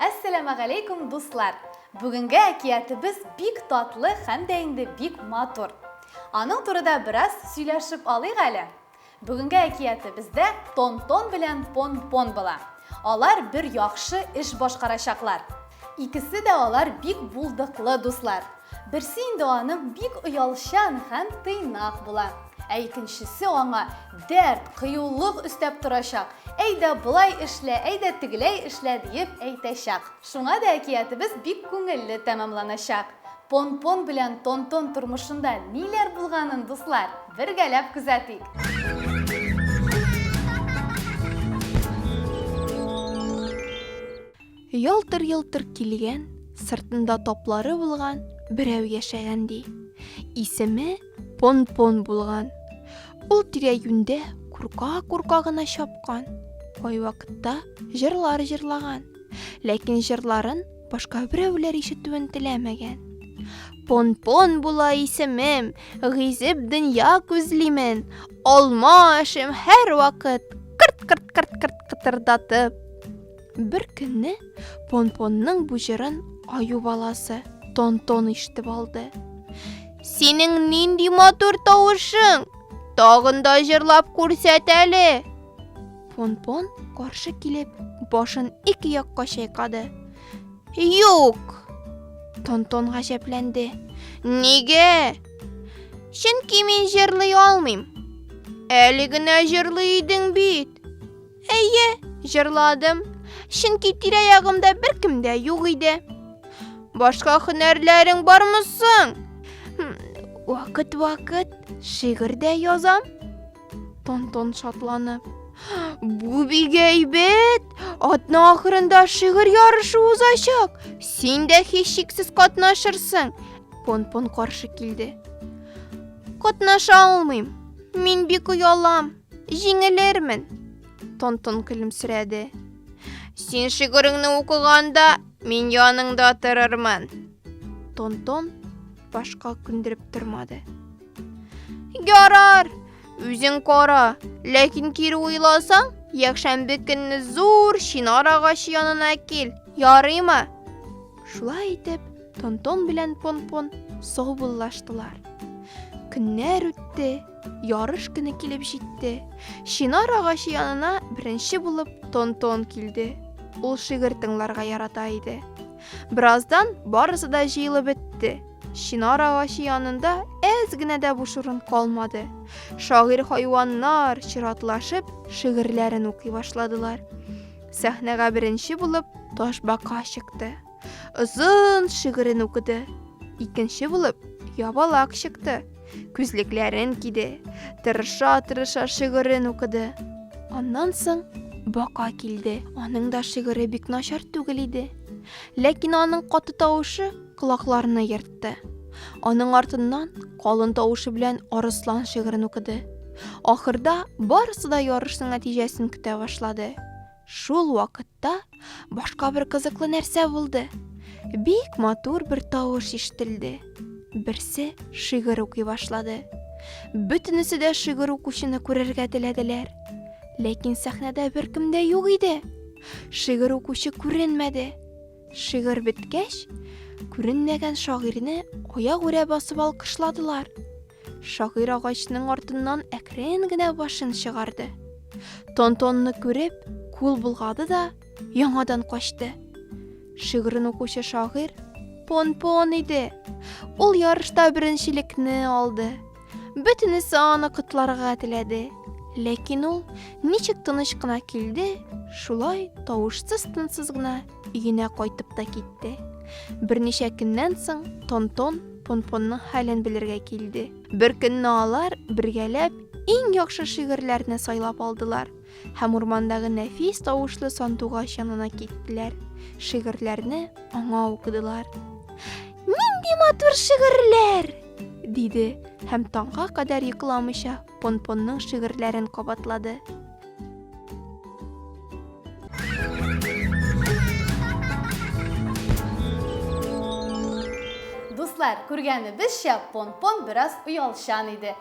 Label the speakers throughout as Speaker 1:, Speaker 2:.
Speaker 1: Әссәламәгаләйкүм, дуслар! Бүгенге әкиятебез бик татлы һәм дә инде бик матур. Аның турыда бераз сөйләшеп алыйк әле. Бүгенге әкиятебездә Тон-Тон белән Пон-Пон була. Алар бер яхшы эш башкарачаклар. Икесе дә алар бик булдыклы дуслар. Берсе инде аның бик оялчан һәм тыйнак була. Ә икенчесе аңа дәрт, кыюлык өстәп торачак, әйдә болай эшлә, әйдә тегеләй эшлә диеп әйтәчәк. Шуңа да әкиятебез бик күңелле тәмамланачак. Пон-пон белән тон-тон тормышында ниләр булганын, дуслар, бергәләп күзәтик.
Speaker 2: Ялтыр-йолтыр килгән, сыртында топлары булган берәү яшәгән ди. Исеме Пон-пон булган. Ул тирә-юньдә курка-курка гына чапкан. Кайвакытта җырлар җырлаган. Ләкин җырларын Башка берәүләр ишетүен теләмәгән. Пон-пон була исемем, гизеп дөнья күзлимен, алма ашым һәр вакыт, кырт-кырт-кырт-кырт кытырдатып. Бер көнне Пон-понның бу җырын аю баласы Тон-тон ишетеп алды. Синең нинди матур тавышың! Тагын да җырлап күрсәт әле! Понпон каршы килеп, башын ике якка чайкады. Юк! Тонтон гаҗәпләнде. Нигә? Чөнки мин җырлый алмыйм. Әле генә җырлый идең бит. Әйе, җырладым. Чөнки тирә-ягымда беркем дә юк иде. Башка һөнәрләрең бармы соң? Вакыт-вакыт шигырь дә язам. Тонтон шатланып. Бу бик әйбәт! Атна ахырында шигырь ярышы узачак. Син дә һичшиксез катнашырсың. Понпон каршы килде. Катнаша алмыйм. Мин бик оялам. Җиңелермен. Тонтон көлемсерәде. Син шигыреңне укыганда мин яныңда торырмын. Тонтон башка күндереп тормады. Ярар, үзең кара, ләкин кире уйласаң, якшәмбе көнне зур чинар агачы янына кил, ярыймы? Шулай итеп, Тонтон белән Понпон саубуллаштылар. Көннәр үтте, ярыш көне килеп җитте. Чинар агачы янына беренче булып Тонтон килде. Ул шигырь тыңларга ярата иде. Бераздан барысы да җыелып бетте. Чинар агачы янында әз генә дә буш урын калмады. Шагыйрь хайваннар чиратлашып шигырьләрен укый башладылар. Сәхнәгә беренче булып Ташбака чыкты. Озын шигырен укыды. Икенче булып Ябалак чыкты. Күзлекләрен киде. Тырыша-тырыша шигырен укыды. Аннан соң Бака килде. Аның да шигыре бик начар түгел иде. Ләкин аның каты тавышы колакларны ертты. Аның артыннан калын тавышы белән Арыслан шигырен укыды. Ахырда барысы да ярышның нәтиҗәсен көтә башлады. Шул вакытта башка бер кызыклы нәрсә булды. Бик матур бер тавыш ишетелде. Берсе шигырь укый башлады. Бөтенесе дә шигырь укучыны күрергә теләделәр. Ләкин сәхнәдә беркем дә юк иде. Шигырь укучы күренмәде. Шигырь беткәч, күренмәгән шагыйрьне аягүрә басып алкышладылар. Шагыйрь агачның артыннан әкрен генә башын чыгарды. Тонтонны күреп, кул болгады да яңадан качты. Шигырен укучы шагыйрь Понпон иде. Ул ярышта беренчелекне алды. Бөтенесе аны котларга теләде. Ләкин ул ничек тыныч кына килде, шулай тавышсыз-тынсыз гына өенә кайтып та китте. Берничә көннән соң Тонтон Понпонның хәлен белергә килде. Бер көнне алар бергәләп иң яхшы шигырьләрне сайлап алдылар. Һәм урмандагы нәфис тавышлы сандугач янына киттеләр. Шигырьләрне аңа укыдылар. Нинди матур шигырьләр! диде һәм таңга кадәр йокламыйча Понпонның шигырьләрен кабатлады.
Speaker 1: Дуслар, күргәнебезчә, Понпон бераз оялчан иде.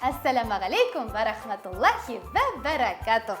Speaker 1: Әссәләмә галейкум вә рәхмәтуллахи вә бәрәкәтүх.